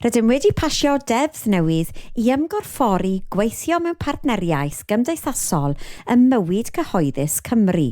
Rydym wedi pasio deddf newydd i ymgorffori gweithio mewn partneriaeth gymdeithasol ym mywyd cyhoeddus Cymru.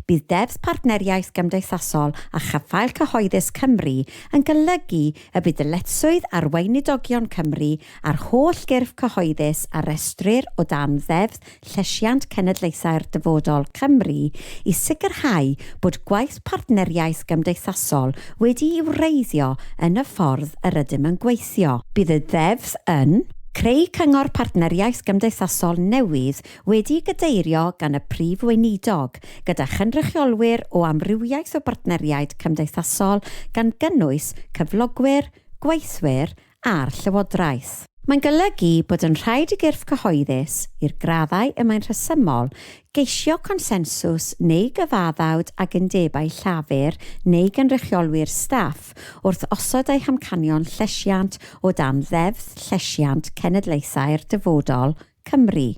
Bydd Deddf Partneriaeth Gymdeithasol a Chaffael Cyhoeddus Cymru yn golygu y bydd dyletswydd ar Weinidogion Cymru a'r holl gyrff cyhoeddus a restrir o dan Ddeddf llesiant cenedlaethau'r dyfodol Cymru i sicrhau bod gwaith partneriaeth gymdeithasol wedi'i wreiddio yn y ffordd yr ydym yn gweithio. Bydd y Ddeddf yn creu cyngor partneriaeth gymdeithasol newydd wedi'i gadeirio gan y Prif Weinidog, gyda chynrychiolwyr o amrywiaeth o bartneriaid cymdeithasol gan gynnwys cyflogwyr, gweithwyr a'r Llywodraeth. Mae'n golygu bod yn rhaid i gyrff cyhoeddus, i'r graddau y mae'n rhesymol, geisio consensws neu gyfaddawd ag undebau llafur neu gynrychiolwyr staff wrth osod eu hamcanion llesiant o dan Ddeddf Llesiant Cenedlaethau'r Dyfodol, Cymru.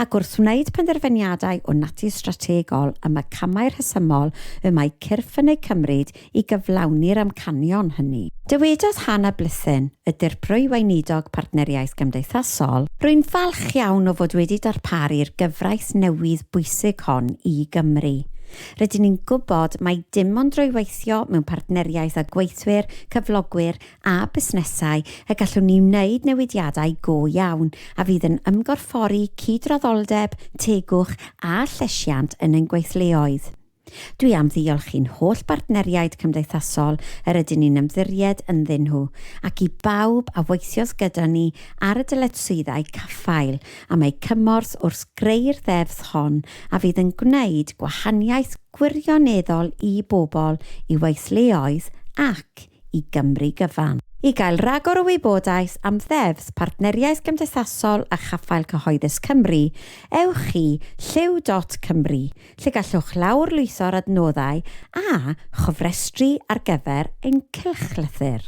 Ac wrth wneud penderfyniadau o natur strategol am y camau rhesymol y mae cyrff yn eu cymryd i gyflawni'r amcanion hynny. Dywedodd Hannah Blythyn, y Dirprwy Weinidog Partneriaeth Gymdeithasol, Rwy'n falch iawn o fod wedi darparu'r gyfraith newydd bwysig hon i Gymru. Rydyn ni'n gwybod mai dim ond drwy weithio mewn partneriaeth â gweithwyr, cyflogwyr a busnesau y gallwn ni wneud newidiadau go iawn a fydd yn ymgorffori cydraddoldeb, tegwch a llesiant yn ein gweithleoedd. Dwi am ddiolch i'n holl bartneriaid cymdeithasol yr ydyn ni'n ymddiried ynddyn nhw, ac i bawb a weithiodd gyda ni ar y dyletswyddau caffael am eu cymorth wrth greu'r ddeddf hon a fydd yn gwneud gwahaniaeth gwirioneddol i bobl, i weithleoedd ac i Gymru gyfan. I gael rhagor o wybodaeth am ddeddfs Partneriaeth Gymdeithasol a Chaffael Cyhoeddus Cymru, ewch i Llyw dot Cymru, lle gallwch lawrlwytho'r adnoddau a chofrestru ar gyfer ein cylchlythyr.